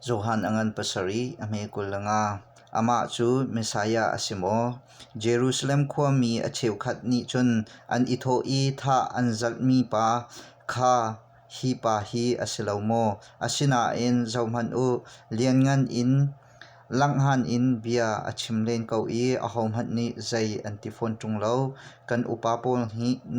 Johan a ngan pasarih a hme kul le nga. Amah cu Messiah a si maw? Jerusalem khuami a cheukhat nih cun an i thawh i thah an zalhmi pa kha hi pa hi a si lo maw? Asinain zohhmanh u, lianngan in Langhan in bia a chim len ko i ahohmanh nih zei an ti fawn ṭung lo. Kan upa pawl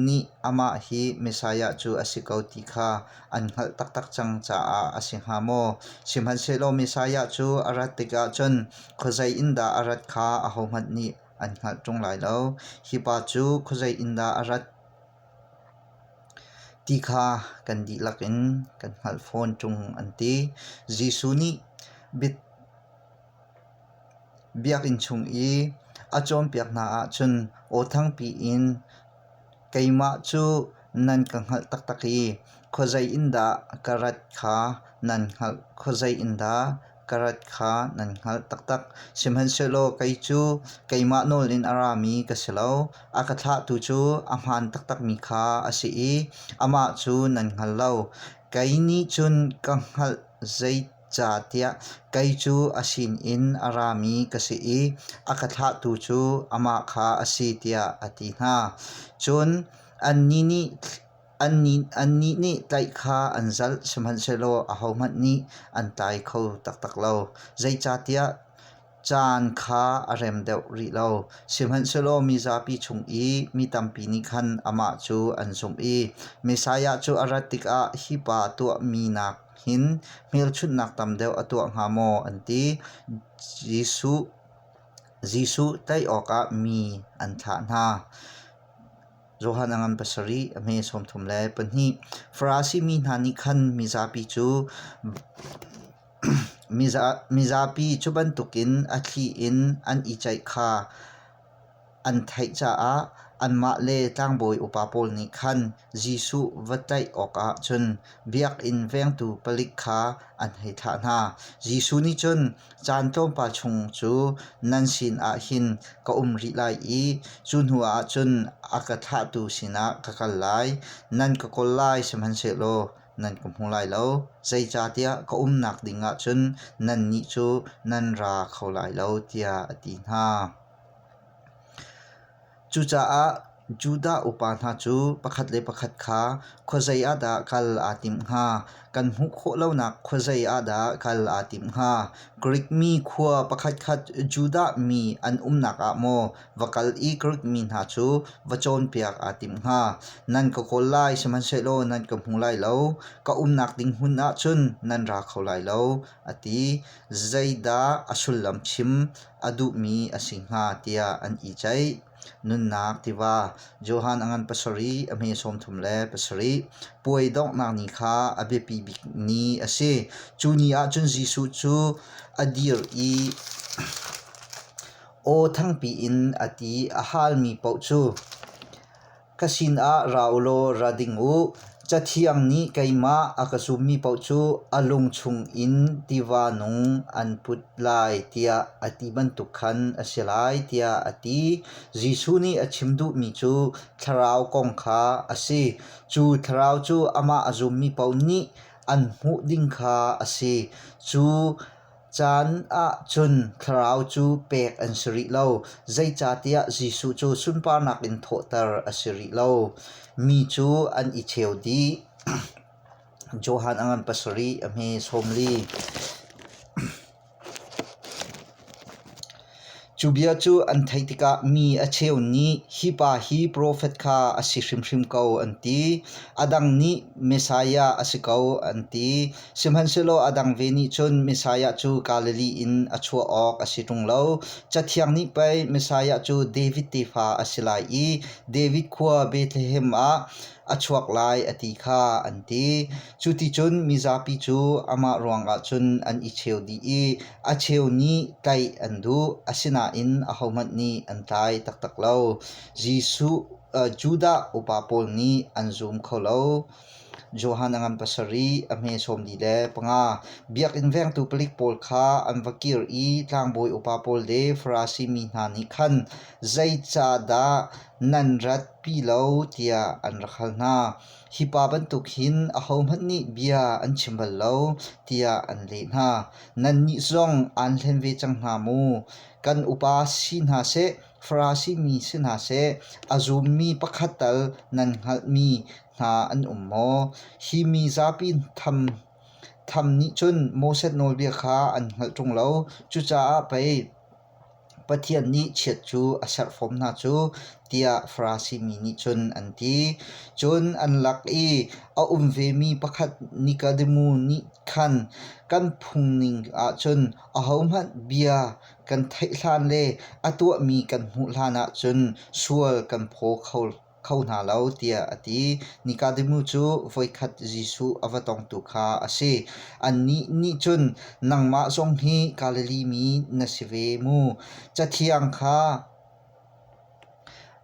nih amah hi Messiah cu a si ko ti kha an hngalh taktak cang caah a si hnga maw? Sihmanhsehlaw Messiah cu a rat tikah cun khuazei in dah a rat kha ahohmanh nih an hngalh ṭung lai lo. Hi pa cu khuazei in dah a rat? Ti kha kan dihlak in kan hngalh fawn ṭung an ti. Jesuh nih biakinn chung i a cawnpiak hna ahcun aw thangpi in keimah cu nan ka hngalh taktak i khuazei in dah ka rat kha nan hngalh, khuazei in dah ka rat kha nan hngalh taktak. Sihmanhsehlaw kei cu keimah nawl in a rami ka si lo, a ka thlahtu cu a hmaan taktakmi kha a si i amah cu nan hngal lo. Kei nih cun ka hngalh zeicahtiah kei cu a sinin a rami ka si i a ka thlahtu cu amah kha a si tiah a ti hna. Cun annih nih Annih nih tlaih kha an zalh, sihmanhsehlaw ahohmanh nih an tlai kho taktak lo. Zeicahtiah caan kha a rem deuh rih lo. Sihmanhsehlaw mizapi chung i mi tampi nih khan amah cu an zumh i Messiah cu a rat tikah hi pa a tuahmi nakin hmelchunhnak tam deuh a tuah hnga maw? an ti. Jesuh tlaih awkah mi an thlah hna. Johan a ngan pasarih, a hme sawmthum le pahnih. Farasi mi hna nih khan mizapi cu mizapi cu bantukin a thli in an i ceih kha an theih caah anmah le tlangbawi upa pawl nih khan Jesuh va tlaih awkah cun biakinn vengtu palik kha an hei thlah hna. Jesuh nih cun Caan tlawmpal chung cu nan sin ah hin ka um rih lai i cu hnu ah cun a ka thlahtu sinah ka kal lai. Nan ka kawl lai sihmanhsehlaw nan ka hmu lai lo. Zeicahtiah ka umnak ding ah cun nannih cu nan ra kho lai lo, tiah a ti hna. Cucaah Judah upa hna cu pakhat le pakhat kha khuazei ah dah kal aa timh hnga? Kan hmuh khawh lonak khuazei ah dah kal aa timh hnga? Grik mi khua pakhatkhat Judah mi an umnak ah maw va kal i Grik mi hna cu va cawnpiak aa timh hnga? Nan ka kawl lai, sihmanhsehlaw nan ka hmu lai lo. Ka umnak ding hmun ah cun nan ra kho lai lo, a ti. Zeidah a sullam chim a duhmi a si hnga tiah an i ceih. Nunnak tiva Johan a ngan pasarih, a hme sawmthum le pasarih. Puai donghnak ni kha a biapi bik ni a si. Cu ni ahcun Jesuh cu a dir i aw thangpi in a ti. A halmi paoh cu Ka sinah ra u law ra ding u; Cathiang nih keimah a ka zummi paoh cu a lung chungin tiva nung an put lai tiah a ti bantuk khan a si lai tiah a ti. Jesuh nih a chim duhmi cu thlarau kong kha a si. Cu thlarau cu amah a zummi paoh nih an hmuh ding kha a si. Cu Caan ahcun thlarau cu pek an si rih lo, zeicahtiah Jesuh cu sunparnak in thawhter a si rih lo. Mi cu an i cheu dih. Johan a ngan pasarih a hme sawmli. Cu bia cu an theih tikah mi a cheu nih hi pa hi profet kha a si hrimhrim ko an ti. A dang nih Messiah a si ko an ti. Sihmanhsehlaw a dang ve nih cun Messiah cu Galilee in a chuah awk a si ṭung lo. Cathiang nih pei Messiah cu David tefa a si lai i David khua Bethlehem ah a chuak lai a ti kha an ti. Cuticun mizapi cu amah ruangah cun an i cheu dih i a cheu nih tlaih an duh, asinain ahohmanh nih an tlai taktak lo. Jesuh Judah upa pawl nih an zum kho lo. Johan a ngan pasarih, a hme sawmli le panga. Biakinn vengtu palik pawl kha an va kir i tlangbawi upa pawl le Farasi mi hna nih khan zeicahdah nan ratpi lo tiah an rak hal hna. Hi pa bantuk hin ahohmanh nih bia an chim bal lo, tiah an leh hna. Nannih zong aan hlen ve cang hna mu. Kan upa si hna seh, Farasi mi si hna seh, a zummi pakhat tal nan hngalhmi hna an um maw? Hi mi zapi tham tham nih cun Moses nawlbia kha an hngalh ṭung lo. Cucaah pei Pathian nih chiat cu a serfawm hna cu tiah Farasi mi nih cun an ti. Cun an lak i a um vemi pakhat Nikademu nih khan kan phungning ahcun ahohmanh bia kan theih hlan le a tuahmi kan hmuh hlanah cun sual kan phaw kho kho hna lo tiah a ti. Nikodemu cu voikhat Jesuh a va tongtu kha a si. Annih nih cun, Nangmah zong hi Galilee mi na si ve mu. Cathiang kha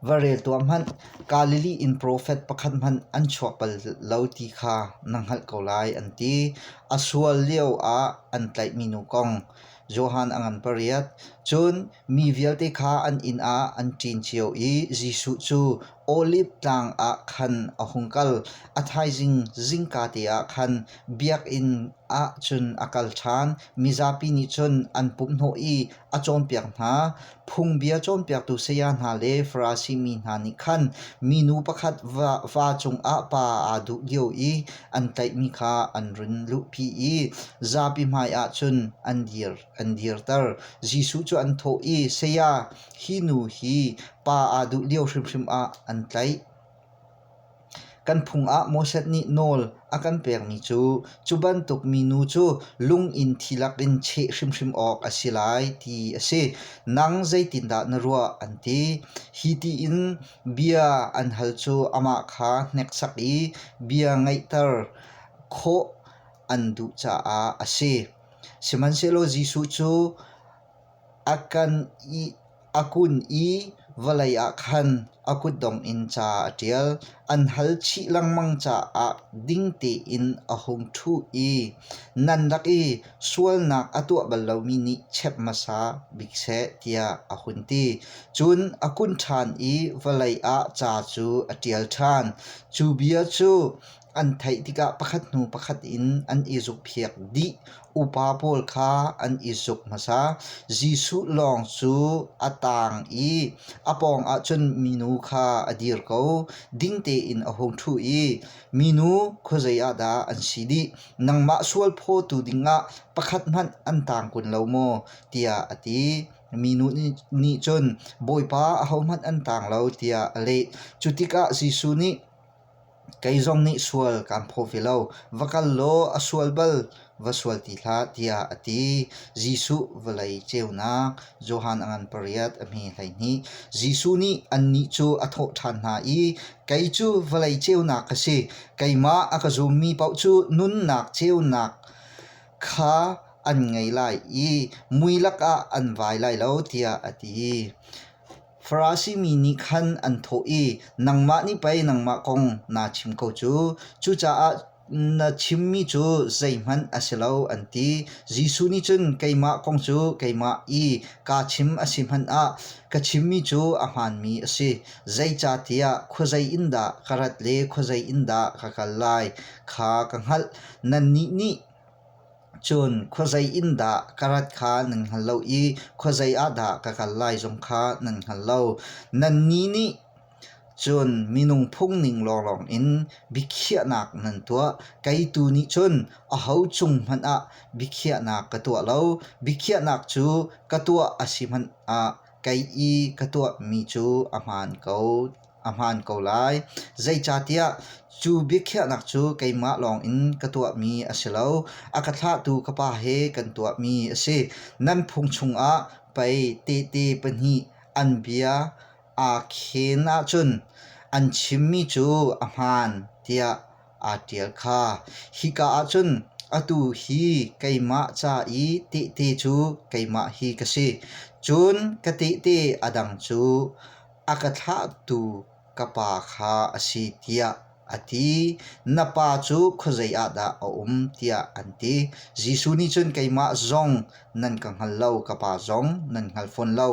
va rel tuah hmanh, Galilee in profet pakhat hmanh an chuak bal lo ti kha na hngalh ko lai, an ti. A sual lio ah an tlaihmi nu kong, Johan a ngan pariat. Cun mi vialte kha an inn ah an ṭin cio i Jesuh cu Olif Tlang ah khan a hung kal. A thaizing zingka te ah khan biakinn ah cun a kal ṭhan. Mizapi nih cun an pumhhnawh i a cawnpiak hna. Phungbia cawnpiaktu saya hna le Farasi mi hna nih khan minu pakhat va cungah pa aa duh lio i an tlaihmi kha an run luhpi i zapi hmaiah cun an dir an dirter. Jesuh cu an thawh i, Saya, hi nu hi pa aa duh lio hrimhrim ah an tlaih. Kan phung ah Moses nih nawl a kan pekmi cu cu bantuk minu cu lung in thi lakin cheh hrimhrim awk a si lai ti a si. Nang zeitindah na ruah? an ti. Hi tiin bia an hal cu amah kha hneksak i bia ngaihter khawh an duh caah a si. Sihmanhsehlaw Jesuh cu A kun i vawlei ah khan a kutdong in ca a ṭial, an hal chih lengmang caah ding tein a hung ṭhu i nan rak i sualnak a tuah bal lomi nih chep hmasa bik seh tiah a hun ti. Cun a kun ṭhan i vawlei ah ca cu a ṭial ṭhan. Cu bia cu An theih tikah pakhat hnu pakhat in an i zukphiak dih. Upa pawl kha an i zuk hmasa. Jesuh lawng cu a taang i a pawng ahcun minu kha a dir ko. Ding tein a hung ṭhu i, Minu, khuazei ah dah an si dih? Nangmah sual phawtu dingah pakhat hmanh an taang kun lo maw? tiah a ti. Minu nih cun, Bawipa, ahohmanh an taang lo, tiah a leh. Cutikah Jesuh nih, Kei zong nih sual kaan phaw ve lo. Va kal law a sual bal va sual ti hlah tiah a ti. Jesuh vawlei ceunak Johan a ngan pariat a hme hleihnih. Jesuh nih annih cu a thawh ṭhan hna i, Kei cu vawlei ceunak ka si. Keimah a ka zummi paoh cu nunnak ceunak kha an ngei lai i mui lakah an vai lai lo, tiah a ti. Farasi mi nih khan an thawh i, Nangmah nih pei nangmah kong naa chim ko cu. Cucaah na chimmi cu zeihmanh a si lo, an ti. Jesuh nih cun, Keimah kong cu keimah i kaa chim a si hmanh ah ka chimmi cu a hmaanmi a si. Zeicahtiah khuazei in dah ka rat le khuazei in dah ka kal lai kha ka hngalh. Nannih nih Cun khuazei in dah ka rat kha nan hngal lo i khuazei ah dah ka kal lai zong kha nan hngal lo. Nannih nih cun minung phungning lawnglawng in biakhiahnak nan tuah. Kei tu nih cun aho cung hmanh ah biakhiahnak ka tuah lo. Biakhiahnak cu ka tuah a si hmanh ah kei i ka tuahmi cu a hmaan ko. a hmaan ko lai. Zeicahtiah cu biakhiahnak cu keimah lawngin ka tuahmi a si lo. A ka thlahtu ka Pa he kan tuahmi a si. Nan phung chungah pei tehte pahnih an bia aa khen ahcun an chimmi cu a hmaan tiah aa ṭial kha. Hika ahcun atu hi keimah ca i tehte cu keimah hi ka si. Cun ka tehte a dang cu a ka thlahtu ka pa kha a si tiah a ti. Na pa cu khuazei ah dah a um tiah an ti. Jesuh nih cun keimah zong nan ka hngal lo, ka pa zong nan hngal fawn lo.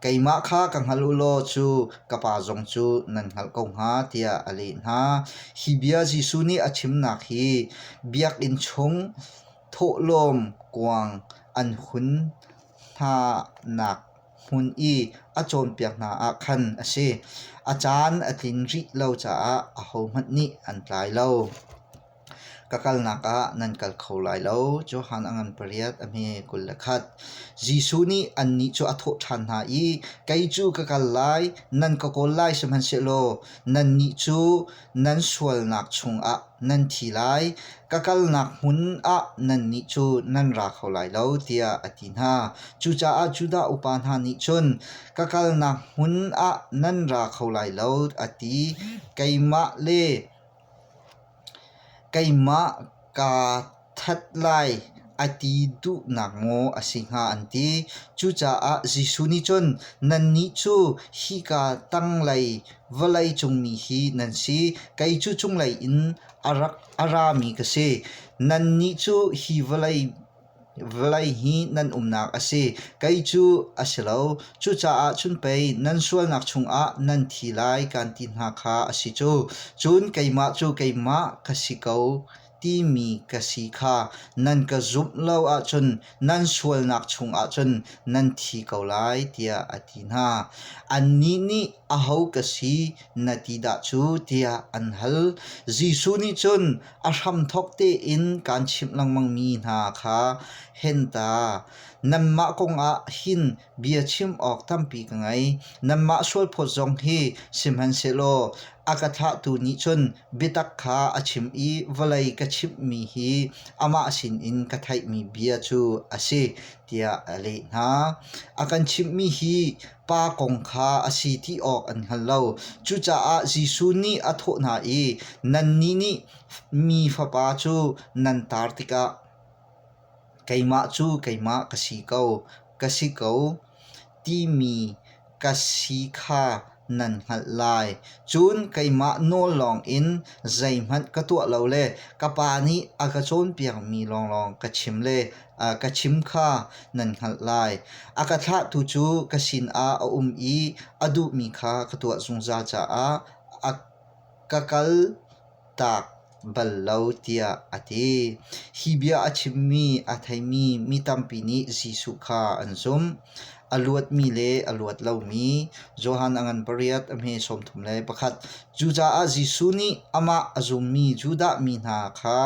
Keimah kha ka hngal u law cu ka pa zong cu nan hngalh ko hnga tiah a leh hna. Hi bia Jesuh nih a chimnak hi biakinn chung thawhlawm kuang an hun hnanak hmun i a cawnpiak hna ah khan a si. A caan a tling rih lo caah ahohmanh nih an tlai lo. Ka kalnak ah nan kal kho lai lo. Johan a ngan pariat a hme kul le khat. Jesuh nih annih cu a thawh ṭhan hna i, Kei cu ka kal lai, nan ka kawl lai sihmanhsehlaw nannih cu nan sualnak chungah nan thi lai, ka kalnak hmun ah nannih cu nan ra kho lai lo, tiah a ti hna. Cucaah Judah upa hna nih cun, Ka kalnak hmun ah nan ra kho lai lo, a ti. Keimah le keimah kaa That lai a ti duhnak maw a si hnga an ti. Cucaah Jesuh nih cun nannih cu hika tanglei vawlei cung mi hi nan si, kei cu cunglei in a rak a rami ka si. Nannih cu hi vawlei vawlei hi nan umnak a si, kei cu a si lo. Cucaah cun pei nan sualnak chungah nan thi lai kan ti hna kha a si cu. Cun keimah cu keimah ka si ko timi ka si kha nan ka zumh lo ahcun nan sualnak chungah cun nan thi ko lai tiah a ti hna. Annih nih aho ka si na ti dah cu tiah an hal. Jesuh nih cun a hramthok tein kaan chimh lengmang mi hna kha hen ta, nanmah kongah hin Bia chim awk tampi ka ngei. Nanmah sualphawt zong hi sihmanhsehlaw a ka thlahtu nih cun biatak kha a chim i vawlei ka chimhmi hi amah sinin ka theihmi bia cu a si, tiah a leh hna. A kan chimhmi hi Pa kong kha a si ti awk an hngal lo. Cucaah Jesuh nih a thawh hna i, Nannih nih mi Fapa cu nan tar tikah, Keimah cu keimah ka si ko, ka si ko timi ka si kha nan hngalh lai. Cun keimah nawl lawngin zeihmanh ka tuah lo le ka Pa nih a ka cawnpiakmi lawnglawng ka chim le ka chim kha nan hngalh lai. A ka thlahtu cu ka sinah a um i a duhmi kha ka tuah zungzal caah a ka kal. taak bal lo tiah a ti. Hi bia a chimmi a theimi mi tampi nih Jesuh kha an zumh. A luatmi le a luat lomi Johan a ngan pariat a hme sawmthum le pakhat. Cucaah Jesuh nih amah a zummi Judah mi hna kha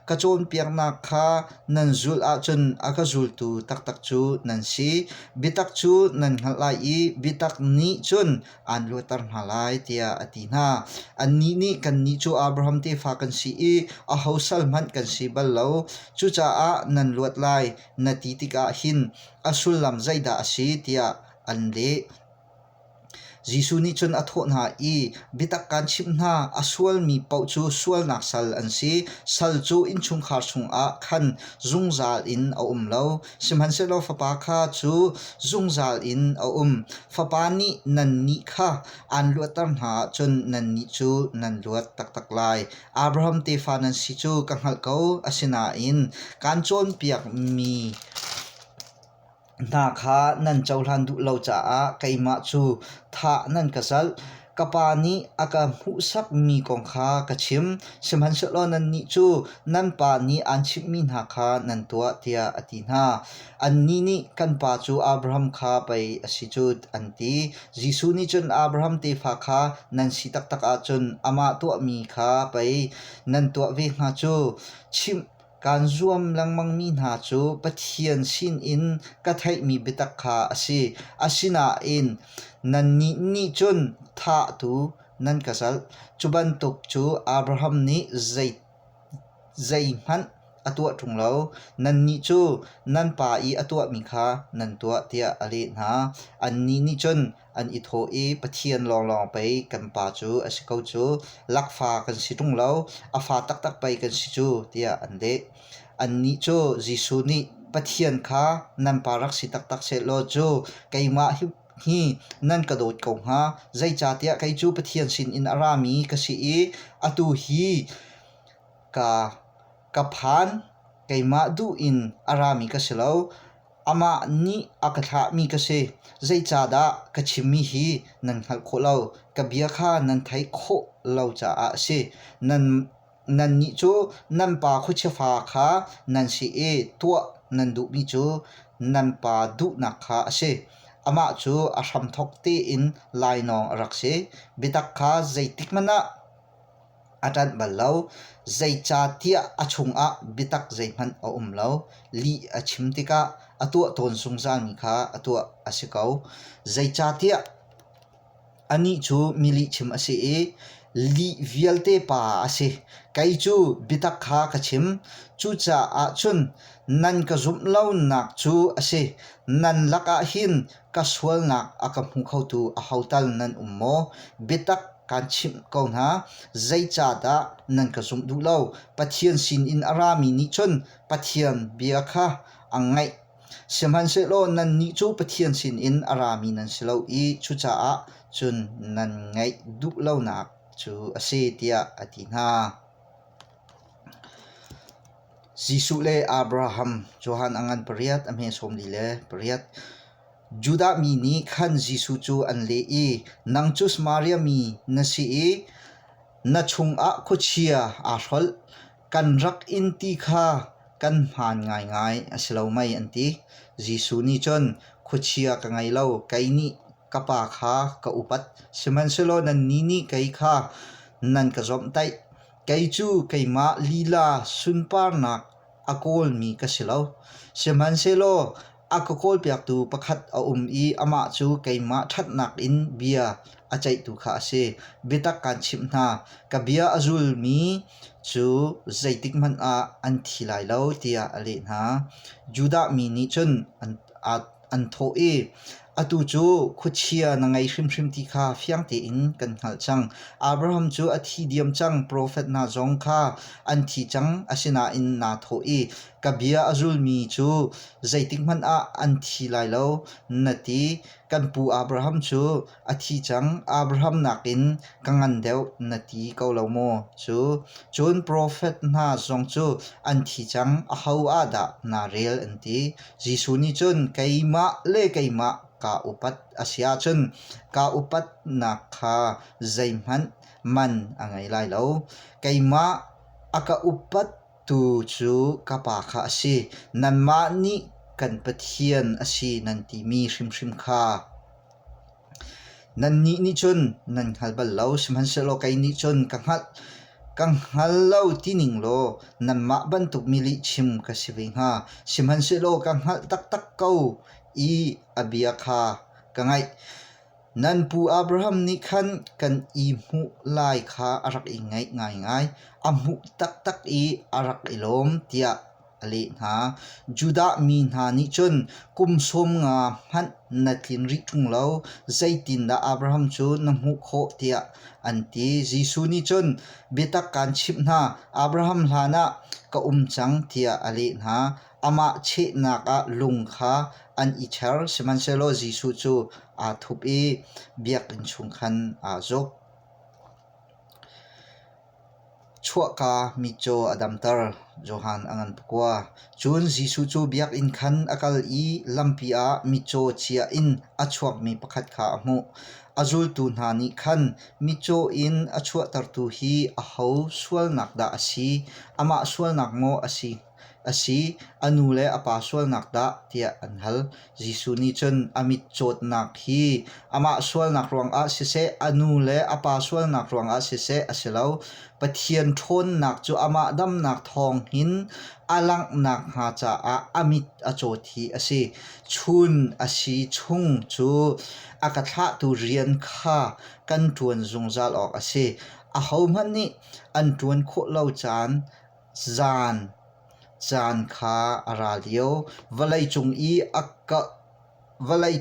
ka cawnpiaknak kha nan zulh ahcun a ka zultu taktak cu nan si. Biatak cu nan hngalh lai i biatak nih cun aan luatter hna lai tiah a ti hna. Annih nih kannih cu Abraham tefa kan si i aho sal hmanh kan si bal lo. Cucaah nan luat lai na ti tikah hin a sullam zeidah a si tiah an leh. Jesuh nih cun a thawh hna i, Biatak kaan chimh hna, a sualmi paoh cu sualnak sal an si. Sal cu innchungkhar chungah khan zungzal in a um lo. Sihmanhsehlaw fapa kha cu zungzal in a um. Fapa nih nannih kha aan luatter hna ahcun nannih cu nan luat taktak lai. Abraham tefa nan si cu ka hngalh ko. Asinain kaan cawnpiakmi hna kha nan cohlan duh lo caah keimah cu thah nan ka zalh. Ka pa nih a ka hmuhsakmi kong kha ka chim, sihmanhsehlaw nannih cu nan pa nih aan chimhmi hna kha nan tuah, tiah a ti hna. Annih nih, Kan pa cu Abraham kha pei a si cu, an ti. Jesuh nih cun Abraham tefa kha nan si taktak ahcun amah tuahmi kha pei nan tuah ve hnga cu. Chimh Kaan zuam lengmangmi hna cu Pathian sinin ka theihmi biatak kha a si. Asinain nannih nih cun thahtu nan ka zalh. Cu bantuk cu Abraham nih zeihmanh a tuah ṭung lo. Nannih cu nan pa i a tuahmi kha nan tuah, tiah a leh hna. Annih nih cun, an i thawh i Pathian lawnglawng pei kan pa cu a si ko cu, lakfa kan si ṭung lo, a fa taktak pei kan si cu, tiah an leh. Annih cu Jesuh nih Pathian kha nan pa rak si taktak sehlaw cu keimah hi nan ka dawt ko hnga, zeicahtiah kei cu Pathian sinin a rami ka si i atu hi ka ka phan, keimah duh in a rami ka si lo. Amah nih a ka thlahmi ka si. Zeicahdah ka chimmi hi nan hngalh khawh lo? Ka bia kha nan theih khawh lo caah a si. Nan, nannih cu nan pa khuachia-fa kha nan si i tuah nan duhmi cu nan pa duhnak kha a si. Amah cu a hramthawk tein lainawng a rak si. Biatak kha zeitikhmanh ah a ṭanh bal lo. Zeicahtiah a chungah biatak zeihmanh a um lo. Lih a chim tikah a tuah tawn zungzalmi kha a tuah a si ko. Zeicahtiah anih cu mi lihchim a si i lih vialte pa a si. Kei cu biatak kha ka chim. Cucaah cun nan ka zumh lonak cu a si. Nan lakah hin Ka sualnak a ka hmu khotu ahotal nan um maw? Biatak kaan chimh ko hna, zeicahdah nan ka zumh duh lo? Pathian sinin a rami nih cun Pathian bia kha an ngaih. Sihmanhsehlaw nannih cu Pathian sinin a rami nan si lo i cucaah cun nan ngaih duh lonak cu a si, tiah a ti hna. Jesuh le Abraham cu han a ngan pariat a hmehsawm li le pariat. Judah mi nih khan Jesuh cu an leh i, Nang cu Samaria mi na si i na chungah khuachia aa hrolh, kan rak in ti kha kan hmaan ngaingai a si lo mei, an ti. Jesuh nih cun, Khuachia ka ngei lo, kei nih ka Pa kha ka upat, sihmanhsehlaw nannih nih kei kha nan ka zomhtaih. Kei cu keimah lila sunparnak a kawlmi ka si lo. Sihmanhsehlaw a ka kawlpiaktu pakhat a um i amah cu keimah ṭhatnak in bia a ceihtu kha a si. Biatak kaan chimh hna, ka bia a zulmi cu zeitikhmanh ah an thi lai lo, tiah a leh hna. Judah mi nih cun an aa an thawh i atu cu khuachia na ngei hrimhrim ti kha fiang tein kan hngalh cang. Abraham cu a thi diam cang, profet hna zong kha an thi cang, asinain naa thawh i ka bia a zulmi cu zeitikhmanh ah an thi lai lo, na ti. Kan pu Abraham cu A thi cang Abraham nakin ka ngan deuh na ti ko lo maw cu? Cun profet hna zong cu an thi cang aho ah dah naa rel an ti. Jesuh nih cun keimah le keimah kaa upat a si ahcun kaa upatnak kha zeihmanh man a ngei lai lo. Keimah a ka upattu cu ka Pa kha a si. Nanmah nih kan Pathian a si nan timi hrimhrim kha Nannih nih cun nan hngal bal lo, sihmanhsehlaw kei nih cun ka hngalh. Ka hngal lo tining law nanmah bantuk mi lihchim ka si ve hnga. Sihmanhsehlaw ka hngalh taktak ko i a bia kha ka ngaih. Nan pu Abraham nih khan kan i hmuh lai kha a rak i ngaih ngaingai. A hmuh taktak i a rak i lawm, tiah a leh hna. Judah mi hna nih cun, Kum sawm nga hmanh na tlin rih ṭung lo, zeitindah Abraham cu na hmuh khawh? tiah an ti. Jesuh nih cun, Biatak kaan chimh hna, Abraham hlanah ka um cang, tiah a leh hna. Amah chehnak ah lung kha an i ṭher, sihmanhsehlaw Jesuh cu aa thup i biakinn chung khan aa zuk. Chuahka mi cu a damter, Johan a ngan pakua. Cun Jesuh cu biakinn khan a kal i lampi ah mitcaw chia in a chuakmi pakhat kha a hmuh. A zultu hna nih khan, Mitcaw in a chuahtertu hi aho sualnak dah a si? Amah sualnak maw a si? a si. A nu le a pa sualnak dah tiah an hal. Jesuh nih cun a mit cawtnak hi amah sualnak ruangah siseh, a nu le a pa sualnak ruangah siseh a si lo. Pathian ṭhawnnak cu amah damnak thawng hin a langhnak hnga caah a mit a cawt hi a si. Chun a si chung cu a ka thlahtu rian kha kan ṭuan zungzal awk a si. Ahohmanh nih an ṭuan khawh lo caan Caan caan kha a ra lio. Vawlei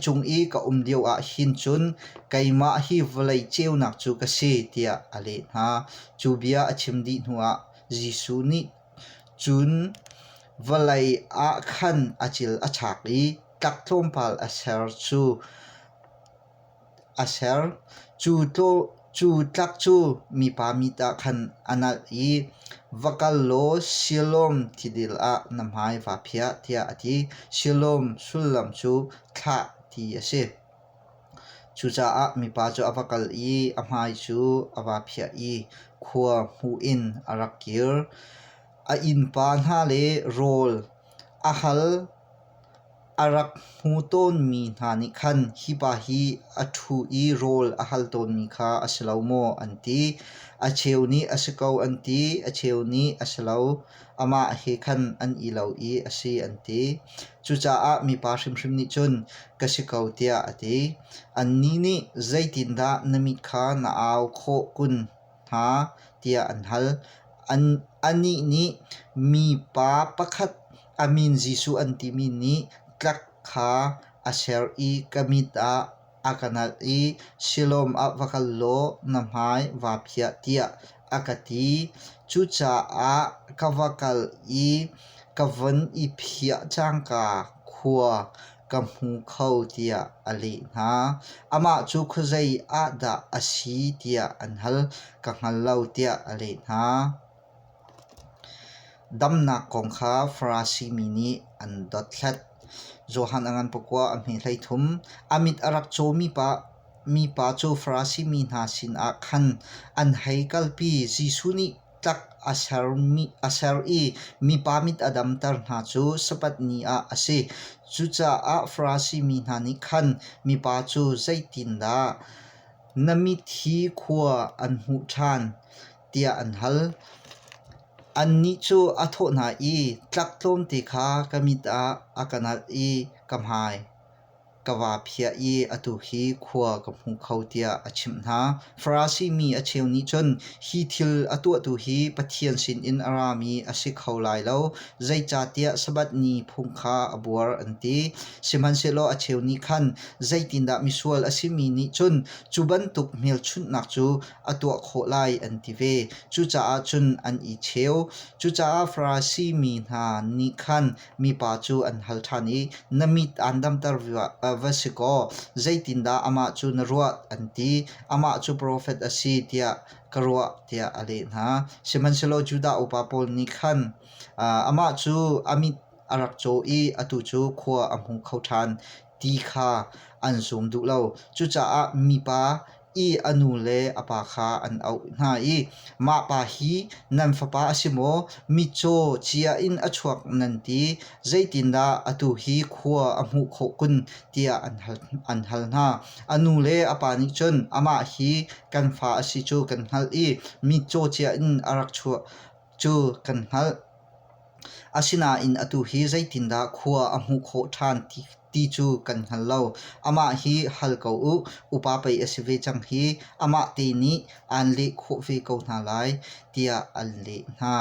cung i ka um lio ahhin cun keimah hi vawlei ceunak cu ka si tiah a leh hna. Cu bia a chim dih hnuah Jesuh nih cun vawlei ah khan a cil a chak i tlak tlawmpal a ser cu A ser. Cu tlak cu mipa mit ah khan a nalh i, Va kal law Siloam tidil ah na hmai vaa phiah, tiah a ti. Siloam sullam cu thlah ti a si. Cucaah mipa cu a va kal i a hmai cu a vaa phiah i khua hmuh in a rak kir. A innpa hna le rawl a hal. A rak hmu tawnmi hna nih khan hi pa hi a ṭhu i rawl a hal tawnmi kha a si lo maw, an ti. A cheu nih a si ko an ti, a cheu nih a si lo. Amah he khan an i lo i a si an ti. Cucaah mipa hrimhrim nih cun ka si ko tiah a ti. Annih nih zeitindah na mit kha na au khawh kun? hna tiah an hal. Anih nih mipa pakhat a min Jesuh an timi nih tlak kha a ser i ka mit ah a ka nalh i Siloam ah va kal law na hmai vaa phiah tiah a ka ti. Cucaah ka va kal i ka von i phiah cangka khua ka hmu kho tiah a leh hna. Amah cu khuazei ah dah a si tiah an hal. Ka hngal lo tiah a leh hna. Damnak kong kha Farasi mi nih an dothlat. Johan a ngan pakua a hme hlei thum. A mit a rak cawmi pa, mipa cu Farasi mi hna sinah khan an hei kalpi. Jesuh nih Tlak a ser i mipa mit a damter hna cu sapat ni ah a si. Cucaah Farasi mi hna nih khan mipa cu zeitindah na mit hi khua an hmuh ṭhan tiah an hal. Annih cu a thawh hna i, Tlak tlawmte kha ka mit ah a ka nalh i ka hmai ka va phiah i atu hi khua ka hmu kho tiah a chimh hna. Farasi mi a cheu nih cun, Hi thil a tuahtu hi Pathian sinin a rami a si kho lai lo, zeicahtiah Sabbath ni phung kha a buar, an ti. Sihmanhsehlaw a cheu nih khan, Zeitindah misual a simi nih cun cu bantuk hmelchunhnak cu a tuah khawh lai, an ti ve. Cucaah cun an i cheu. Cucaah Farasi mi hna nih khan Mipa cu an hal ṭhan i, Na mit aan damter va si kaw zeitindah amah cu na ruah? an ti. Amah cu profet a si tiah ka ruah tiah a leh hna. Sihmanhsehlaw Judah upa pawl nih khan amah cu a mit a rak caw i atu cu khua a hmu kho ṭhan. ti kha an sum duh lo. Cucaah mipa i a nu le a pa kha an auh hna i, Mah pa hi nan fapa a si maw? Mitcaw cia in a chuak nan ti. Zeitindah atu hi khua a hmuh khawh kun? tiah an hal, an hal hna. A nu le a pa nih cun, Amah hi kan fa a si cu kan hngalh i mitcaw cia in a rak chuah. cu kan hngalh. Asinain atu hi zeitindah khua a hmuh khawh ṭhan ti, ti cu kan hngal lo. Amah hi hal ko u, upa pei a si ve cang hi, amah te nih aan leh khawh ve ko hna lai, tiah an leh hna.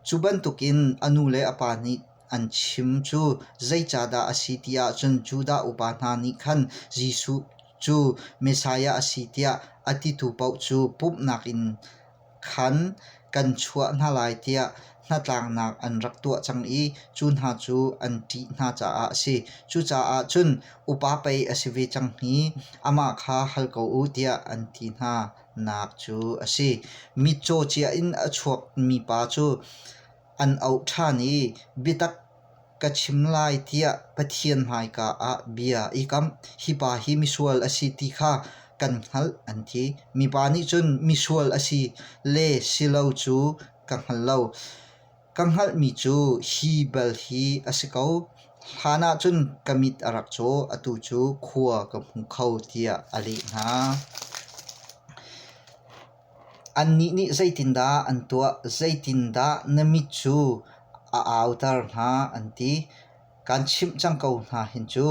Cu bantukin a nu le a pa nih an chim cu zeicahdah a si ti ahcun Judah upa hna nih khan Jesuh cu Messiah a si tiah a titu paoh cu pumhnak in khan kan chuah hna lai tiah hnatlaknak an rak tuah cang i cu hna cu an ṭih hna caah a si. Cucaah cun upa pei a si ve cang hi amah kha hal ko u tiah an ti hna nak cu a si. Mitcaw cia in a chuakmi pa cu an auh ṭhan i biatak Ka chim lai tiah Pathian hmaika ah bia i kam. Hipa hi misual a si ti kha kan hngalh an ti. Mipa nih cun misual a si le si lo cu ka hngal lo. Ka hngalhmi cu hi bel hi a si ko. Hlan ah cun ka mit a rak caw, atu cu khua ka hmu kho tiah a leh hna. Annih nih zeitindah an tuah? Zeitindah na mit cu a auter hna an ti. Kan chimh cang ko hna hin cu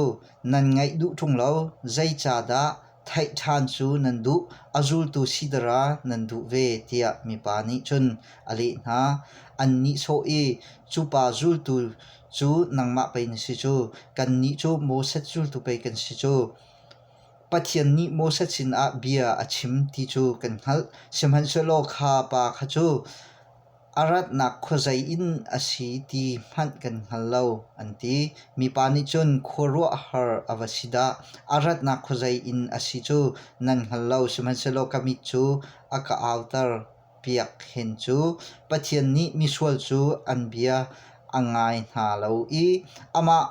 nan ngaih duh ṭung lo. Zeicahdah theih ṭhan cu nan duh? A zultu sidara nan duh ve tiah mipa nih cun a leh hna. An nihsawh i, Cupa zultu cu nangmah pei na si cu. Kannih cu Moses zultu pei kan si cu. Pathian nih Moses sinah bia a chim ti cu kan hngalh, sihmanhsehlaw kha pa kha cu a ratnak khuazei in a si ti hmanh kan hngal lo, an ti. Mipa nih cun, Khuaruahhar a va si dah! A ratnak khuazei in a si cu nan hngal lo, sihmanhsehlaw ka mit cu a ka auter piak hen cu. Pathian nih misual cu an bia a ngai hna lo i amah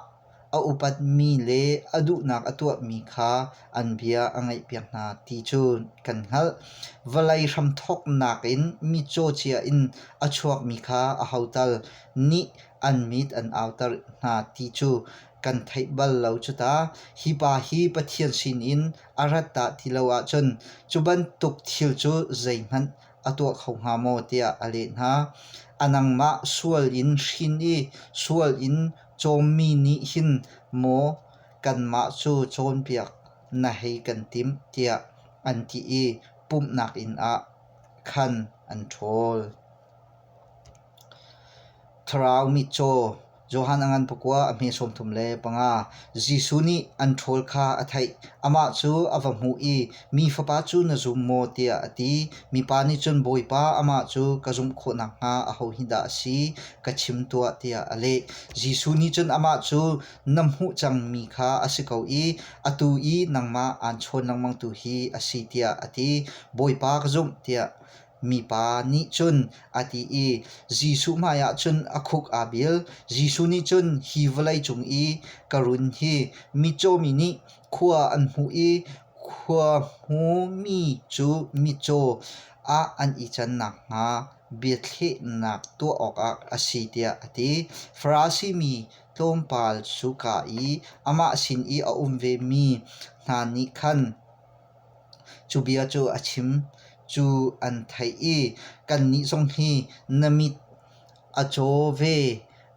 a upatmi le a duhnak a tuahmi kha an bia a ngaihpiak hna ti cu kan hngalh. Vawlei hramthawknak in mi cawcia in a chuakmi kha a hotal nih an mit an auter hna ti cu kan theih bal lo cu ta. Hi pa hi Pathian sinin a rat dah ti lo ahcun cu bantuk thil cu zeihmanh a tuah kho hnga maw tiah a leh hna. A nangmah sual in hrin i sual in Cawmmi nih hin maw kanmah cu cawnpiak na hei kan timh tiah an ti i pumhnak inn ah khan an ṭhawl. Thlarau mitcaw Johan a ngan pakua a hme sawm thum le panga Jesuh nih an ṭhawl kha a theih. Amah cu a va hmuh i Mi fapa cu na zum maw? tiah a ti. Mipa nih cun, Bawipa, amah cu ka zumh khawh nakhnga ahohi dah a si? Ka chim tuah, tiah a leh. Jesuh nih cun amah cu, Na hmuh cangmi kha a si ko i atu i nangmah aan chawn lengmang tu hi a si, tiah a ti. Bawipa ka zumh, tiah Mipa nih cun a ti i Jesuh hmaiah cun a khuk aa bil. Jesuh nih cun hi vawlei cung i ka run hi mitcaw mi nih khua an hmuh i khua hmumi cu mitcaw ah an i can nakhnga biathlehnak tuah awkah a si tiah a ti. Farasi mi tlawmpal cu kah i amah sin i a um vemi hna nih khan Cu bia cu a chim. Cu an theih i, kannih zong hi na mit a caw ve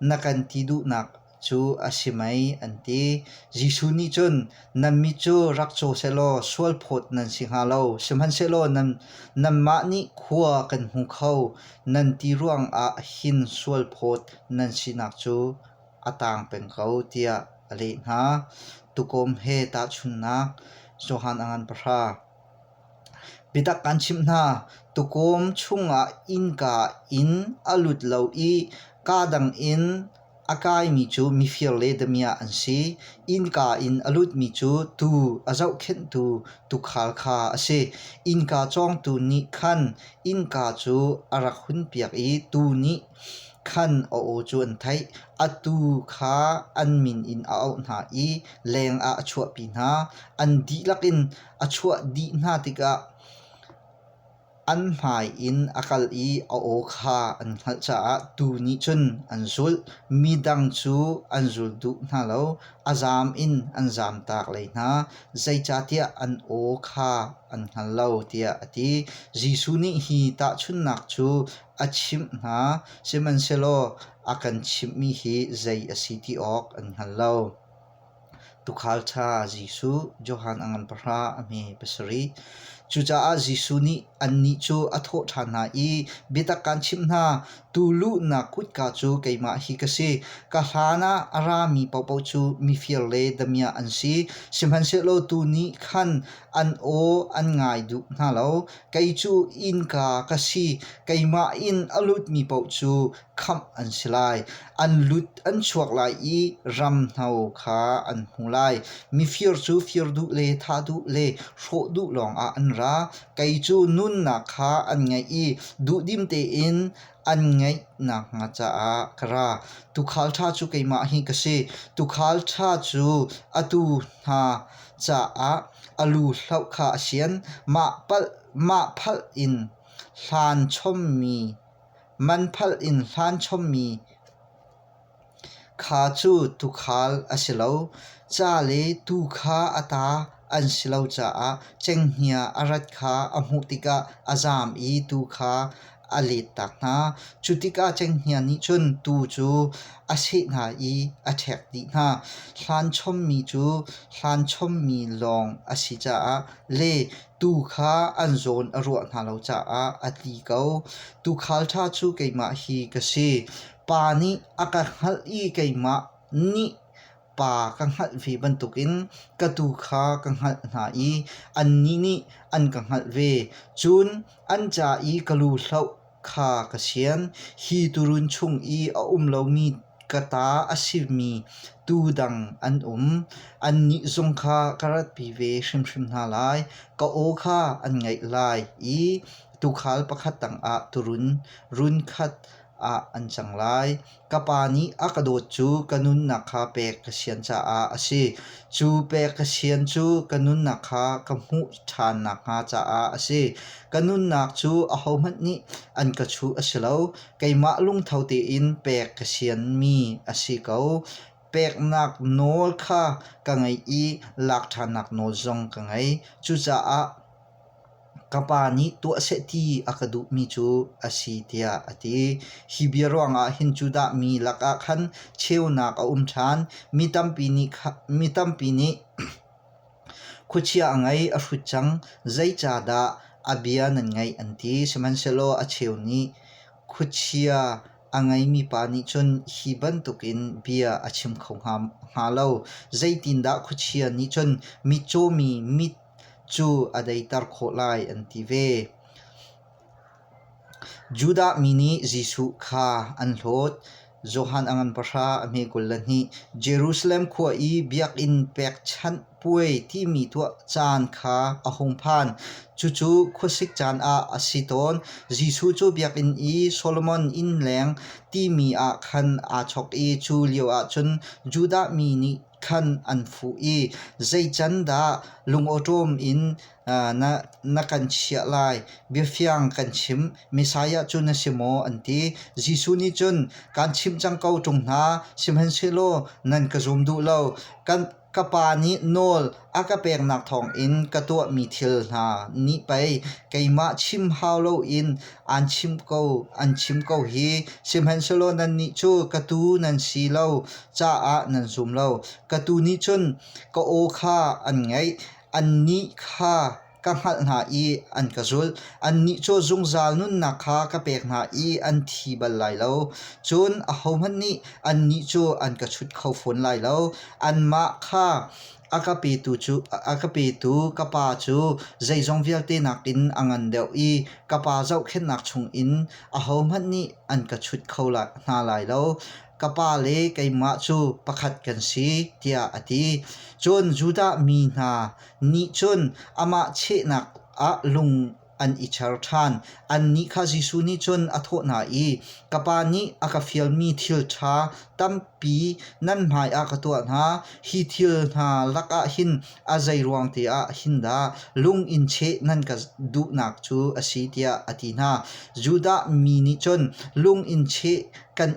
na kan ti duhnak cu a si mei? an ti. Jesuh nih cun, Nan mit cu rak caw sehlaw sualphawt nan si hnga lo, sihmanhsehlaw nanmah nih khua kan hmu kho, nan ti ruangah hin sualphawt nan sinak cu. a taang peng ko tiah a leh hna. Tuukawm he tahchunhnak Johan a ngan pahra. Biatak kan chimh hna, tuukawm chungah innka in a lut lo i kaa dang in a kaimi cu mifir le damiah an si. Innka in a lutmi cu tuu, a zohkhenhtu tuukhal kha a si. Innka cawngtu nih khan innka cu a rak hunpiak i tuu nih Khan a aw cu an theih, atu kha an min in a auh hna i leng ah a chuahpi hna. An dihlak in a chuah dih hna tikah an hmai in a kal i a aw kha an hngalh caah tuu nih cun an zulh. Midang cu an zul duh hna lo, a zaam in an zaamtak lei hna, zeicahtiah an aw kha an hngal lo, tiah a ti. Jesuh nih hi tahchunhnak cu a chimh hna, sihmanhsehlaw a kan chimhmi hi zei a si ti awk an hngal lo. Tukhal ṭha Jesuh, Johan a ngan pahra a hme pasarih. Cucaah Jesuh nih annih cu a thawh ṭhan hna i, Biatak kaan chimh hna, tu luhnak kutka cu keimah hi ka si. Ka hlan ah a rami paohpaoh cu mifir le damiah an si. Sihmanhsehlaw tu nih khan an aw an ngai duh hna lo. Kei cu innka ka si. Keimah in a lutmi paoh cu khamh an si lai. An lut an chuak lai i ramhno kha an hmu lai. Mifir cu fir duh le thah duh le hrawh duh lawngah an ra. Kei cu nunnak kha an ngeih i duhdim tein an ngeih nakhnga caah ka ra. Tuukhal ṭha cu keimah hi ka si. Tuukhal ṭha cu atu hna caah a lu hloh kha a sian. Mah palh mah phalh in hlan chommi man phalh in hlan chommi Kha cu tuukhal a si lo, ca le tuu kha a ta an si lo caah cenghngia a rat kha a hmuh tikah a zaam i tuu kha a lettak hna. Cu tikah cenghngia nih cun tuu cu a seh hna i a ṭhek dih hna. Hlan chommi cu hlan chommi lawng a si caah le tuu kha an zawn a ruah hna lo caah a tli ko. Tuukhal ṭha cu keimah hi ka si. Pa nih a ka hngalh i keimah nih pa ka hngalh ve bantukin ka tu kha ka hngalh hna i annih nih an ka hngalh ve. Cun an ca i ka lu hloh kha ka sian. Hi turun chung i a um lomi ka ta a simi tuu dang an um. Annih zong kha ka ratpi ve hrimhrim hna lai. Ka aw kha an ngaih lai i tuukhal pakhat tangah turun, run khat ah an cang lai. Ka pa nih a ka dawt cu ka nunnak kha pek ka sian caah a si. Cu pek ka sian cu ka nunnak kha ka hmuh ṭhan nakhnga caah a si. Ka nunnak cu ahohmanh nih an ka chuh a si lo. Keimah lungtho tein pek ka sianmi a si ko. Peknak nawl kha ka ngei i lak ṭhannak nawl zong ka ngei. Cucaah ka pa nih tuah seh ti a ka duhmi cu a si tiah a ti. Hi bia ruangah hin Judah mi lakah khan cheunak a um ṭhan. Mi tampi nih kha- mi tampi nih khuachia a ngei a hrut cang, zeicahdah a bia nan ngaih an ti. Sihmanhsehlaw a cheu nih khuachia a ngeimi pa nih cun hi bantukin bia a chim kho hnga, hnga lo. Zeitindah khuachia nih cun mi cawmi mit cu a deiter khawh lai an ti ve. Judah mi nih Jesuh kha an hlawt. Johan a ngan pahra a hme kul le hnih. Jerusalem khua i biakinn pekchanh puai timi tuah caan kha a hung phan. Cucu khuasik caan ah a si tawn. Jesuh cu biakinn i Solomon inn leng timi ah khan aa chok i cu lio ah cun Judah mi nih khan an fuh i zeicandah lungawṭawm in na kan chiah lai? Biafiang kan chim, Messiah cu na si maw? an ti. Jesuh nih cun, Kaan chimh cang ko, ṭung hna, sihmanhsehlaw nan ka zum duh lo. Ka Pa nih nawl A ka peknak thawngin ka tuahmi thil hna nih pei keimah chim hau loin an chim ko an chim ko hi. Sihmanhsehlaw nannih cu ka tuu nan si lo caah nan zum lo. Ka tuu nih cun ka aw kha an ngaih, annih kha ka hngalh hna i an ka zulh. Annih cu zungzal nunnak kha ka pek hna i an thi bal lai lo. Cun ahohmanh nih annih cu an ka chut kho fawn lai lo. Anmah kha a ka petu cu a ka petu ka Pa cu zeizong vialte nakin a ngan deuh i ka Pa zohkhenhnak chungin ahohmanh nih an ka chut kho lai hna lai lo. Ka Pa le keimah cu pakhat kan si, tiah a ti. Cun Judah mi hna nih cun amah chehnak ah lung an i cher ṭhan. Annih kha Jesuh nih cun a thawh hna i, Ka pa nih a ka fialmi thil ṭha tampi nan hmaiah ka tuah hna. Hi thil hna lakah hin a zeiruang tiah hin dah lung in cheh nan ka duhnak cu a si, tiah a ti hna. Judah mi nih cun lung in cheh kan